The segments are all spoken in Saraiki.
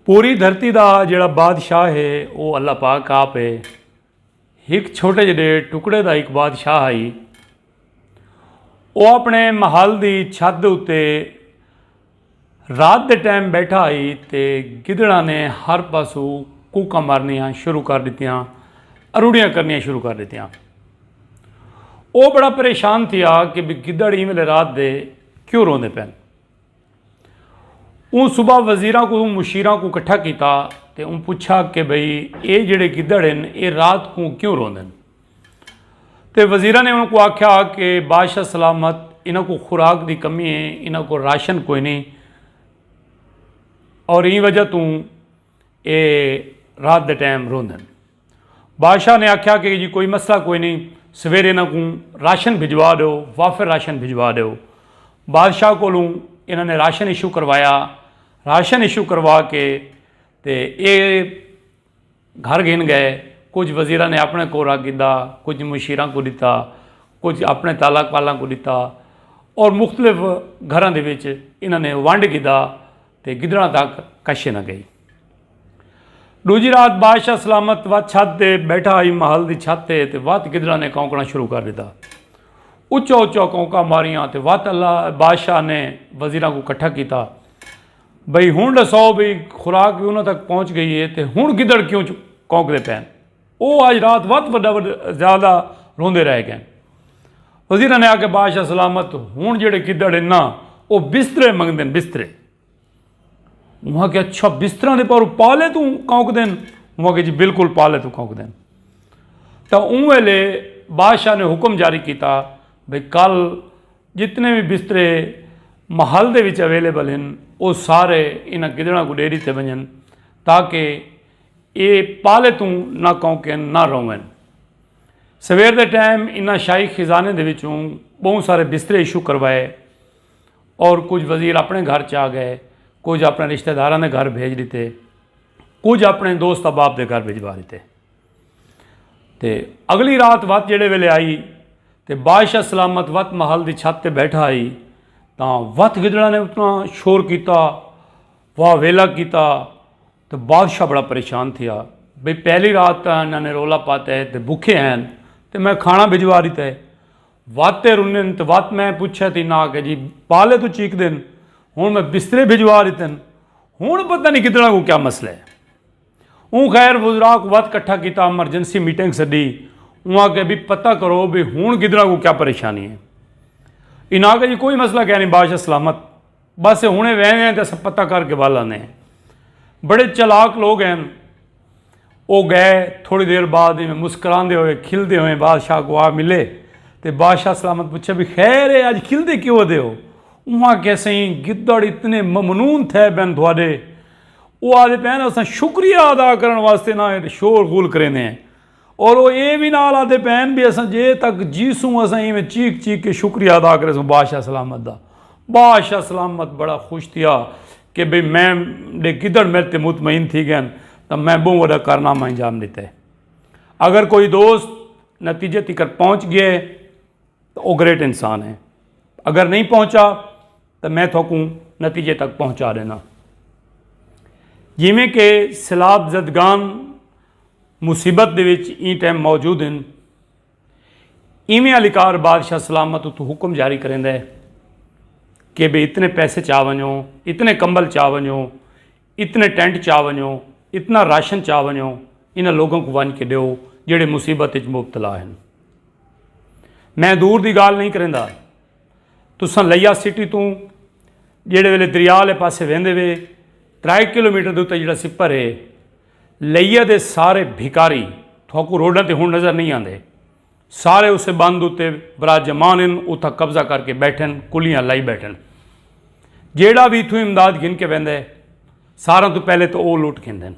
پوری دھرتی دا جیڑھا بادشاہ ہے او اللہ پاک آپ ہے۔ ہک چھوٹے جڈے ٹکڑے دا ہک بادشاہ ہئی۔ او اپنے محل دی چھت دے اتے رات دے ٹائم بیٹھا ہئی تے گدڑاں نے ہر پاسو کوکاں مارنیاں شروع کر ڈتیاں اروڑیاں کرنیاں شروع کر ڈتیاں۔ او بڑا پریشان تھیا کہ گدڑ ایں ویلے رات دے کیوں روندے پن۔ اوں صبح وزیراں کوں مشیراں کوں کٹھا کیتا تے اوں پچھا کہ بھئی اے جڑے گدڑ ہن اے رات کوں کیوں روندن تے وزیراں نے انہاں کو آکھیا کہ بادشاہ سلامت انہاں کو خوراک دی کمی ہے انہاں کو راشن کوئی نہیں اور این وجہ توں اے رات دے ٹائم روندن بادشاہ نے آکھیا کہ جی کوئی مسئلہ کوئی نئیں سویرے انہاں کوں راشن بھجوا ڈیو وافر راشن بھجوا ڈیو بادشاہ کولوں انہاں نے راشن ایشو کروایا راشن ایشو کروا کے تے اے گھر گھن گئے کچھ وزیراں نے اپنے کو رکھ گھدا کچھ مشیراں کو ڈتا کچھ اپنے تالک پالاں کو ڈتا اور مختلف گھراں دے وچ انہاں نے ونڈ گھدا تے گدڑاں تک کشے نہ گئی۔ ڈوجھی رات بادشاہ سلامت وت چھت تے بیٹھا ہئی محل دی چھت تے تے وت گدڑاں نے کونکنا شروع کر ڈتا۔ اچا اچا کونکاں ماریاں تے وت اللہ بادشاہ نے وزیراں کوں کٹھا کیتا بھئی ہن ڈساؤ بھئی خوراک وی انہاں تک پہنچ گئی ہے تے ہن گدڑ کیوں کونکدے پین۔ او اج رات وت وڈا وڈا زیادہ روندے رہ گئن۔ وزیراں نے آکھیا بادشاہ سلامت ہن جیڑھے گدڑ ہن نا او بسترے منگدن بسترے۔ انہاں آکھیا اچھا بستراں دے پاروں پالے توں کونکدن انہاں آکھیا جی بالکل پالے توں کونکدن۔ تاں اوں ویلے بادشاہ نے حکم جاری کیتا بھئی کل جتنے وی بسترے محل دے وچ اویلیبل ہن او سارے انہاں گدڑاں کوں ڈے ڈتے ونجن تاکہ اے پالے توں نہ کونکن نہ روون۔ سویر دے ٹائم انہاں شاہی خزانے دے وچوں بہوں سارے بسترے ایشو کروائے اور کجھ وزیر اپنے گھر چا گئے کجھ اپنے رشتہ داراں دے گھر بھیج ڈتے کجھ اپنے دوست احباب دے گھر بھجوا ڈتے۔ تے اگلی رات وت جیڑھے ویلے آئی تے بادشاہ سلامت وت محل دی چھت تے بیٹھا ہئی تاں وت گدڑاں نے اتنا شور کیتا واہ ویلا کیتا۔ تاں بادشاہ بڑا پریشان تھیا بھئی پہلی رات تاں انہاں نے رولا پاتے ہے تے بکھے ہین تے میں کھانا بھجوا ݙتا ہے وت تے رنن تے وت میں پچھے تھی انہاں آکھیا جی پالے توں چیکدن ہن میں بسترے بھجوا ݙتن ہن پتہ نی گدڑاں کوں کیا مسئلہ ہے اوں خیر وزراء کوں وت کٹھا کیتا ایمرجنسی میٹنگ سڈی اوں آکھیا بھئی پتہ کرو بھئی ہن گدڑاں کوں کیا پریشانی ہے انہاں آکھیا جی کوئی مسئلہ کینی بادشاہ سلامت بس ہنے ویندے ہیں تے اساں پتہ کر کے ول آندے ہیں بڑے چلاک لوگ ہیں او گئے تھوڑی دیر بعد میں مسکراندے ہوئے کھلدے ہوئے بادشاہ کو آ ملے تے بادشاہ سلامت پوچھا بھی خیر ہے اج کھلدے کیوں دے ہو وہاں کیسے ہی گدڑ اتنے ممنون تھے بین تھوڑے او آدھے پہنے اساں شکریہ ادا کرن واسطے نہ شور غول کریندے ہیں اور او اے وی نال آدھے پئے ہن بی اساں جے تک جیسوں اساں اینویں چیخ چیخ کے شکریہ ادا کریسوں بادشاہ سلامت دا۔ بادشاہ سلامت بڑا خوش تھیا کہ بھئی میں ݙے گدڑ میڈ تے مطمئن تھی ڳئے ہن تاں میں ٻہوں وݙا کارنامہ انجام ݙتا ہے۔ اگر کوئی دوست نتیجے تکر پہنچ ڳئے تاں او گریٹ انسان ہے۔ اگر نئیں پہنچا تاں میں تھاکوں نتیجے تک پہنچا ݙینداں۔ جیویں کہ سیلاب زدگان مصیبت دے وچ ایں ٹیم موجود ہن۔ ایویں علیکار بادشاہ سلامت اتوں حکم جاری کریندا ہے کہ بھئی اتنے پیسے چا ونجو، اتنے کمبل چا ونجو، اتنے ٹینٹ چا ونجو، اتنا راشن چا ونجو، انہاں لوگاں کوں ونج کے ڈیو جیڑھے مصیبت وچ مبتلا ہن۔ میں دور دی گالھ نہیں کریندا۔ تساں لیا سٹی توں جیڑھے ویلے دریا والے پاسے ویندے وے ترائے کلومیٹر دے اتے جیڑھا سپر ہے۔ لئیہ دے سارے بھکاری تھوکوں روڈاں تے ہن نظر نئیں آندے۔ سارے اسے بند اتے براجمان ہن، اتھاں قبضہ کر کے بیٹھن، کلیاں لائی بیٹھن۔ جیڑھا وی اتھوں امداد گھن کے ویندے، ساراں توں پہلے تاں او لٹ گھندن۔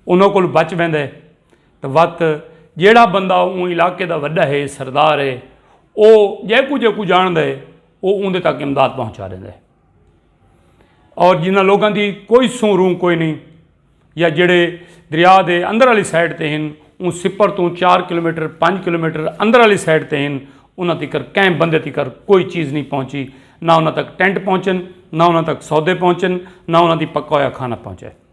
انہاں کولھ بچ ویندے تاں وت جیڑھا بندہ اوں علاقے دا وڈا ہے، سردار ہے، او جیکوں جیکوں جانڑدے او اوندے تک امداد پہنچا ڈیندے۔ اور جنہاں لوگاں دی کوئی سوں روں کوئی نہیں یا جڑے دریا دے اندر والی سائڈ تے ہن اون سپر تو چار کلومیٹر پانچ کلومیٹر اندر والی سائڈ تے ہن انہاں تکر کہیں بندے تکر کوئی چیز نہیں پہنچی نہ انہاں تک ٹینٹ پہنچن نہ انہاں تک سودے پہنچن نہ انہاں دی پکا ہوا کھانا پہنچے